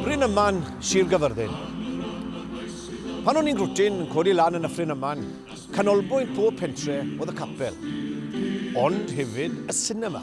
Bryn Yman, Sir Gyfyrddin. Pan o'n i'n glwtyn yn codi lan yn Nyffryn Yman, canolbwynt pob pentre oedd y capel, ond hefyd y sinema.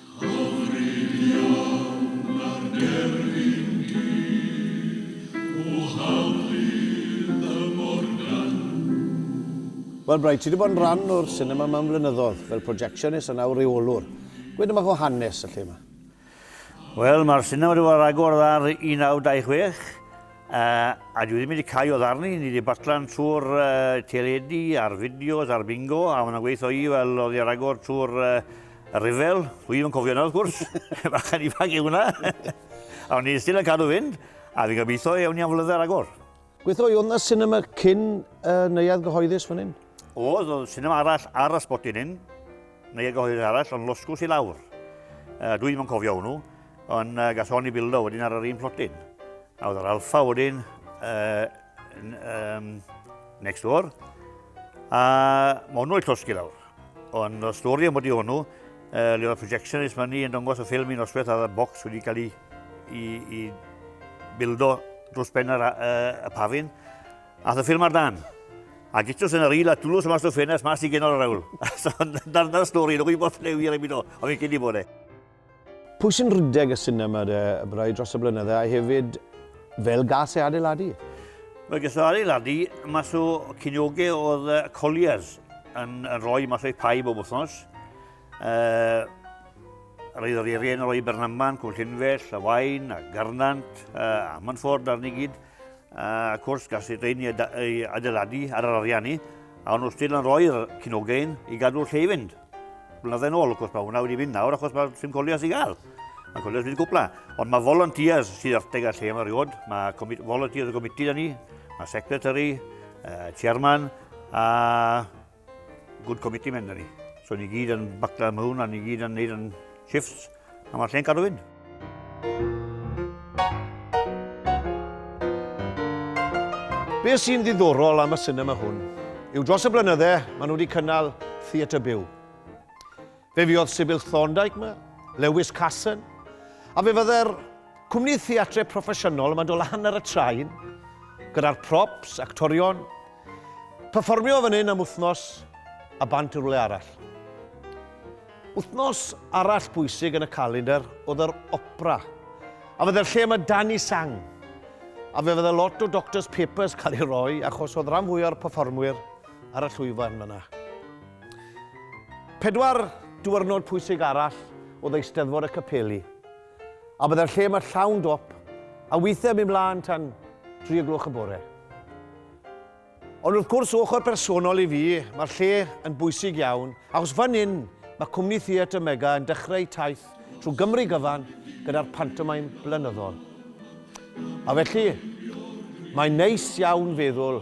Wel Bryce, ti 'di bod yn rhan o'r sinema yma am flynyddoedd, fel projectionist a nawr reolwr. Gweud dipyn bach o hanes y lle yma. Wel, mae'r sinema wedi bod ar agor ar 1926, a dwi ddim wedi cau o ddarni. Ni wedi batlan trwy'r teledu a'r fideos a'r bingo, a mae yna gweithio i fel oedd hi ar agor trwy'r Y rhyfel, dwi ddim yn cofio yna wrth gwrs, bachan ifanc yw hwnna. A o'n i still yn cadw fynd, a fi gobeithio ewn ni am flyddau ragor. Gweithio i oedd na cinema cyn uh, neuad gyhoeddus fan hyn? Oedd, oedd cinema arall ar y sbot yn hyn, neuad gyhoeddus arall, ond losgwrs i lawr. Uh, dwi ddim yn cofio hwnnw, ond uh, gas o'n i bildo wedyn ar yr un plotyn. A oedd yr alfa wedyn, uh, um, next door, a mae hwnnw i llosgi lawr. Ond y stori am wedi hwnnw, uh, le oedd projectionist fan ni yn dongos y ffilm i'n osbeth a bocs wedi cael ei, i, i bildo drws ben yr, uh, y pafin. A y ffilm ar dan. A gytws yn yr il a dwlws yma stwff ffenest mas i genol yr awl. so, dyna'r stori, nhw'n gwybod lle wir ei mynd o. Ond fi'n cyd i bod e. Pwy sy'n rhedeg y sinema de, rai dros y blynyddau, a hefyd fel gas e adeiladu? Mae ges o adeiladu mas o cyniogau oedd uh, Colliers yn, yn rhoi mas o'i pai bob wythnos. Uh, Roedd yr erien yn rhoi Bernamman, Cwmllynfell, a Wain, a Garnant, uh, a Manford arni gyd. A wrth gwrs, gall y rheini ei adeiladu ar yr arian ni, a o'n nhw still yn rhoi'r cinogain i gadw'r lle i fynd. Blynyddoedd ôl, wrth gwrs, mae hwnna wedi mynd nawr achos mae'r sim colias i gael. Mae colias wedi gwpla. Ond mae volunteers sydd arteg ar lle yma riod. Mae volunteers y comiti da ni, mae secretary, uh, chairman, a Good committee men da ni. So ni gyd yn bacla am hwn a ni gyd yn neud yn shifts a mae'r lle'n cadw fynd. Be sy'n ddiddorol am y cinema hwn yw dros y blynyddau maen nhw wedi cynnal theatr byw. Fe fuodd Sybil Thorndike 'ma, Lewis Casson, a fe fydde'r cwmni theatre proffesiynol yma'n dod lan ar y train, gyda'r props, actorion, perfformio fan hyn am wythnos a bant i rwle arall. Wythnos arall bwysig yn y calendr oedd yr opera, a fydde'r lle yma dan i sang, a fe fydde lot o Doctor's Papers cael ei roi achos oedd rhan fwy o'r perfformwyr ar y llwyfan yna. Pedwar diwrnod pwysig arall oedd Eisteddfod y Capeli, a byddai'r lle yma llawn dop, a weithiau yn mynd mlaen tan dri o gloch y bore. Ond wrth gwrs, ochr personol i fi, mae'r lle yn bwysig iawn, achos fan hyn mae Cwmni Theatr Mega yn dechrau taith trwy Gymru gyfan gyda'r pantomaim blynyddol. A felly, mae'n neis iawn feddwl